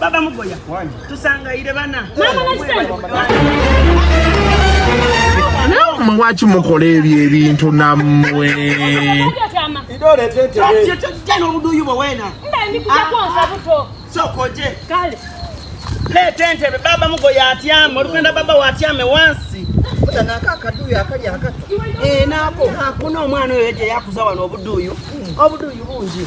Baba Mugoya tusangayire bana nammwe lwaki mukola ebyo ebintu nammwe n'obuduuyi bwe weena sokoje leeta entebe baba mugoya atyame olugenda baba watyame wansi eh, naako hakuna omwana oyo gye yakuza wano obuduuyu obuduuyu bungi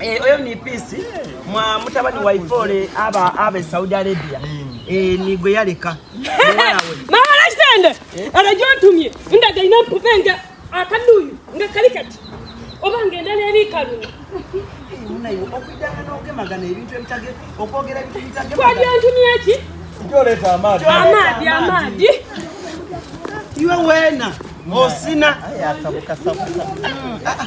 Eh, oyo ni peace mwa mutabani wa ifole aba abe Saudi Arabia hmm. eh ni gwe yaleka mama la kitende eh? anajua ntumye ndaga ina mpupenga akaduyu nga kali kati oba ngenda neri kalu munayo okudanga n'okemagana ebintu ebitage okwogera ebintu ebitage kwali antumye ki njoleta amaadi amaadi amaadi iwe wena osina ayasabukasabuka hmm, ah, ah.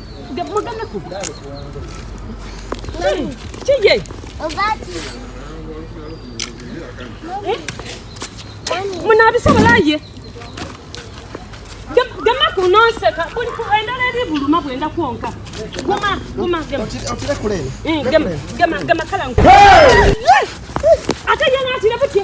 munabisobolaye gema kunonseka endala eri buluma bwenda kwonka guma guma gema eh, gema gema kala ate yena atire butye